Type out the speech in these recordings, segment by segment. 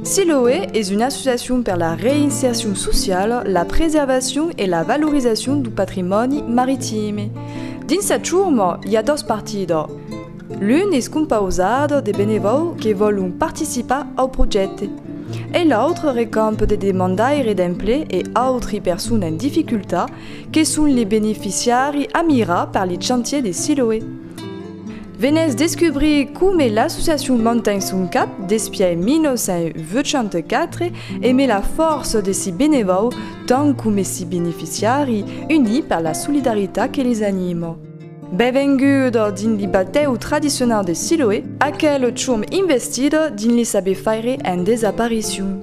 Siloe es una associacion per la reinsercion sociala, la preservacion e la valorizacion du patrimòni maritime. Dins sa churma i a dos partidas. L'un es compausat de benevòu que vòlon participar au projècte e l'autre recamp de demandaires d'emplec e autri personas en dificultat Que son li beneficiari a mirar per li chantier de Siloé? Venètz descubrir come l'associacion manten son cap despièi 1984 e me la fòrça de si benevau tant come si beneficiari unit per la solidaritat que les anima. Benvenguda dins li batèu tradicionau de Siloé, aquel chum investida dins li saber faire en desaparicion.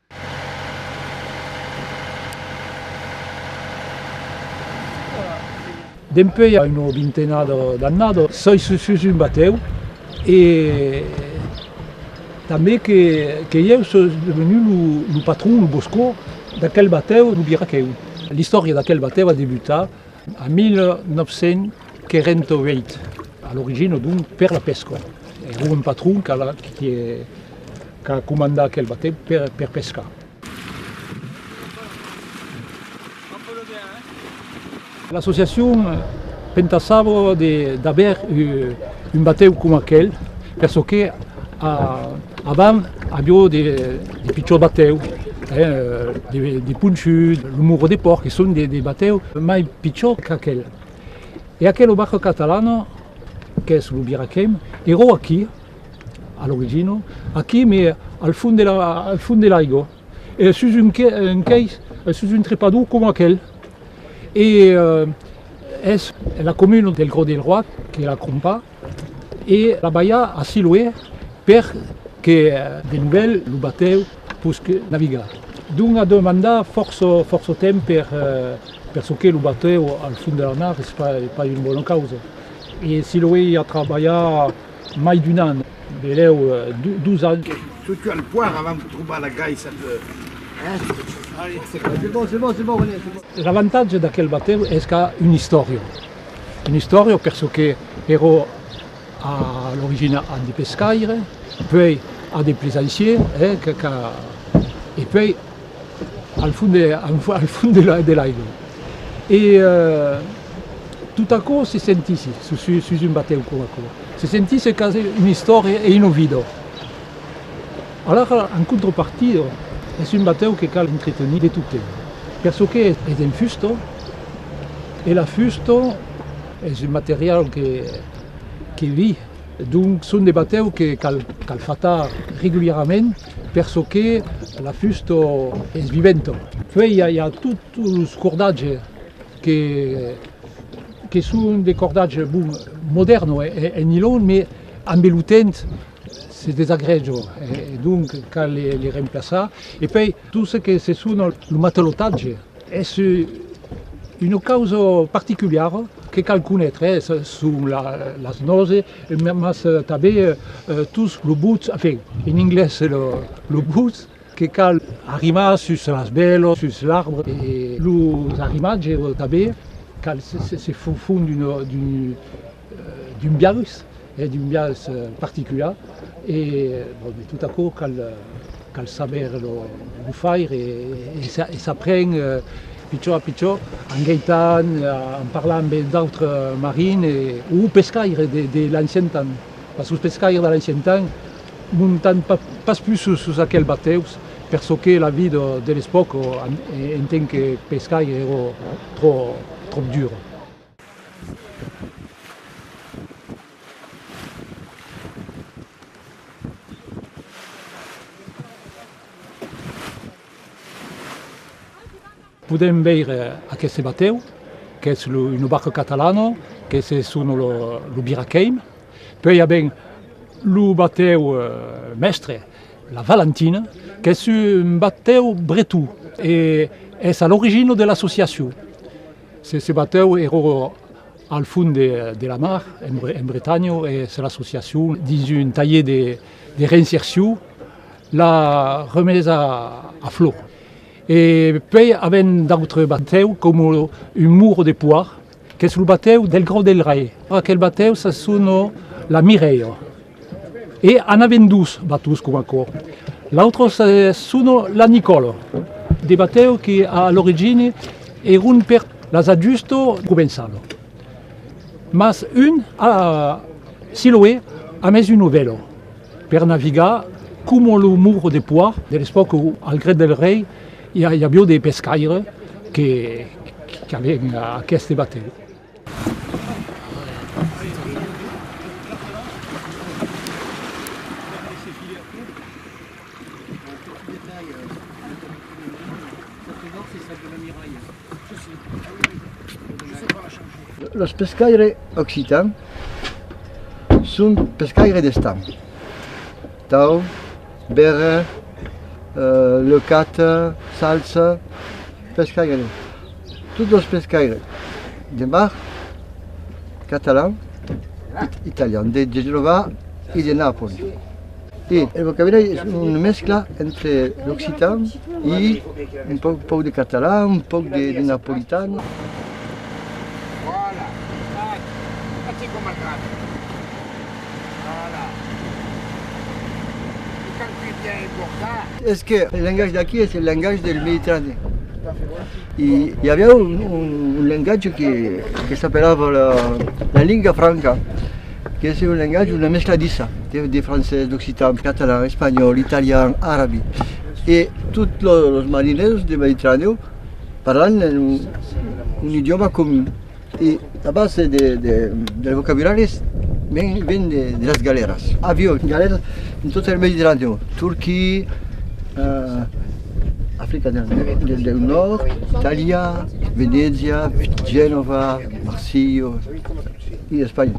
Dempuèi a una vintena d'annadas soi sus un batèu e tanben que ieu soi devenut lo patron, lo boscò d'aquel batèu, lo birraquèu. L'istòria d'aquel batèu a debutat En 1948, a l'origina d'un per la pesca, es lo patron qu'a comandat aquel batèu per pescar. L'associacion pentasava d'aver un batèu coma aquel perçò que avant aviá de De pichòt batèu, de ponchut, lo muro de pòrc, que son de batèu mai pichòt qu'aquel. E aquel o Barco Catalano, qu'es lo biraquem, eró aquí, a l'origina, aquí, me al fond de l'aiga, sus un quai, sus un trepador coma aquel. E es la comuna del Grau del Roac que la crompa. E la balha a Siloé per que de novèl lo batèu posque navigar. Dont a demandar fòrça fòrça temps per per çò que lo batèu al fond de la mar es pas una bona causa. E Siloé i a trabalhat mai d'un an, benlèu dos ans. Çò que al poire avant de trobar la gaissa de hein. L'avantatge d'aquel batèu es qu'a una istòria. Un istorio perçò que ero a l'origina un dipescaire, puei un de plesaissier e que qu'a e puei al fond de al fond de la de l'aigua. E tot aquò se sentisse su su sus un batèu coma aquò. Se sentisse quasi un'istoria e un ovidor. Alara, en contropartida, es un batèu que cal entretenir de totei, per çò que es en fusta, e la fusta es un material que vi, donc son de batèu que cal fatar regularament per çò que la fusta es viventa. Puei i a tots los cordatges que son de cordatges, bon, modèrns en nilon, mai ambe lo temps, Se desagreja e donc cal li remplaçar. E pei tot ce que se sona lo matalotatge es una causa particuliara que cal conétre, son las nòse mas tanben tots los bots, enfin en anglés los bots que cal arrimar sus las bèlas, sus l'arbre e los arrimatges tanben cal se fon d'un d'un biais, d'un biais particular e bon de tot aquò cal cal saber lo faire e s'apren pichon a pichon en geitant, en parlar amb d'autres marins o pescaires de l'ancien temps pas sos pescaires de l'ancien temps montan pas pus sus aquel batèus per çò que la vida de l'espòca en tant que pescaire èra tròp dura. Podèm veire aqueste batèu qu'es una barca catalana, que se sona lo Birakeim. Puèi i a ben lo batèu mèstre, la Valentina, qu'es un batèu breton e es a l'origina de l'associacion. Se batèu ero al fond de la mar, en Bretanha, e se l'associacion, dins un talhier de reinsercion, l'a remés a flor. E puèi avèm d'autres batèus, coma un muro de poir, qu'es lo batèu del Grau del Rei. Aquel batèu se sona la Mireia. E anaven dus batuts coma aquò. L'autre se sono la Nicòlo, de batèu que a l'origini èron per las ajusto començalo. Mas un a Siloé a mes un ovèlo per navigar coma lo moro de poa de l'espòca o al Gret del Rei i avió de pescaires que qu'aven aqueste batèu. Los pescaires occitans son pescaires d'estam, tau, bèrra, leucata, salsa. Pescaires, tots los pescaires de mar catalan, italian, de Genova e de Napoli. E el vocabulari es una mescla entre l'occitan e un pauc de catalan, un pauc de napolitan. Voilà. Tu cal que viens emborcar. Es que el lengatge d'aquí es el lengatge del Mediterranèu. I i aviá un un lengatge que que s'apelava la la linga franca, qu'es un lengatge, una mescladissa de de francés, d'occitan, catalan, espanhòl, italian, arabi. E tot lo los marinèus de Mediterranèu parlan un un idiòma comun. E la base dels vocabularis ven de las galèras. Avió, galèras en tot eth Mediterranèu, Turquia, Africa del Nòrd, Itàlia, Venècia, Genova, Marsilha e Espanha.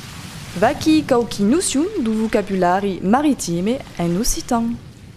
Vaquí quauqui nocion du vocabulari maritime en occitan.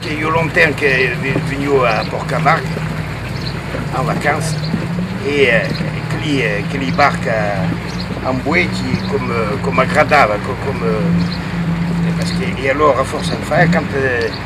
Qu'ei ua lontan que venio a Pòrtcamard en vacança e aqueli barc en boei que m'agradava, e alòra fòrça enfant.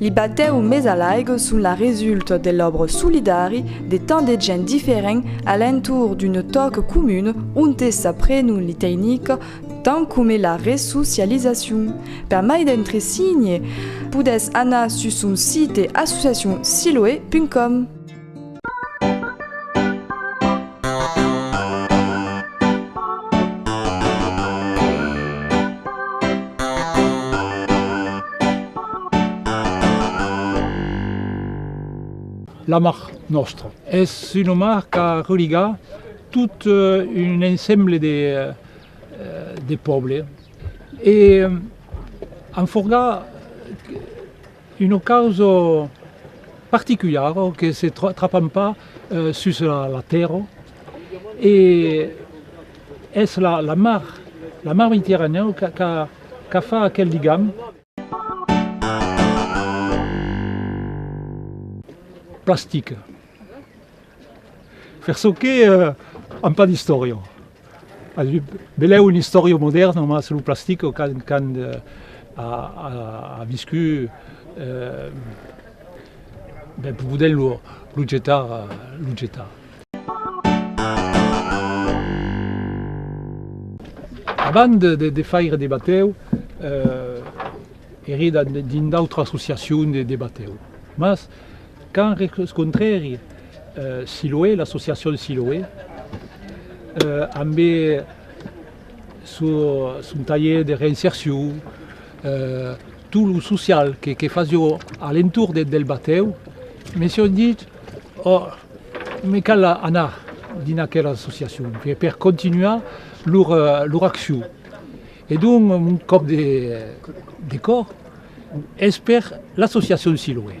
Li batèu mes a l'aigo son la resulta de l'òbra solidari de tant de gent diferent a l'entorn d'una tòca comuna onte s'aprenon li teinica tant coma la resocializacion. Per mai d'entresigne podètz anar sus son site associacion siloe.com. La mar nòstra es una mar qu'a religar tot un ensemble de pòble e en forgar Una causa particulara que se trapan pas sus la tèrra e es la mar, la mar Mediterranèu qu'a fa aquel ligam. Plastic. Per çò que an pas d'istòria, belèu un istòria modèrna, mas lo plastic quand a viscut, ben podèm lo jetar, lo jetar. Abans de faire de batèu, ère dins d'autra associacion de batèu, mas Quand rescontrèri Siloé, l'associacion Siloé, ambe son talher de reinsercion, tot lo social que fasió a l'entorn del batèu, me sión dit, oh, me cal anar dins aquela associacion per continuar lor accion. E donc mon còp de còr es per l'associacion Siloé.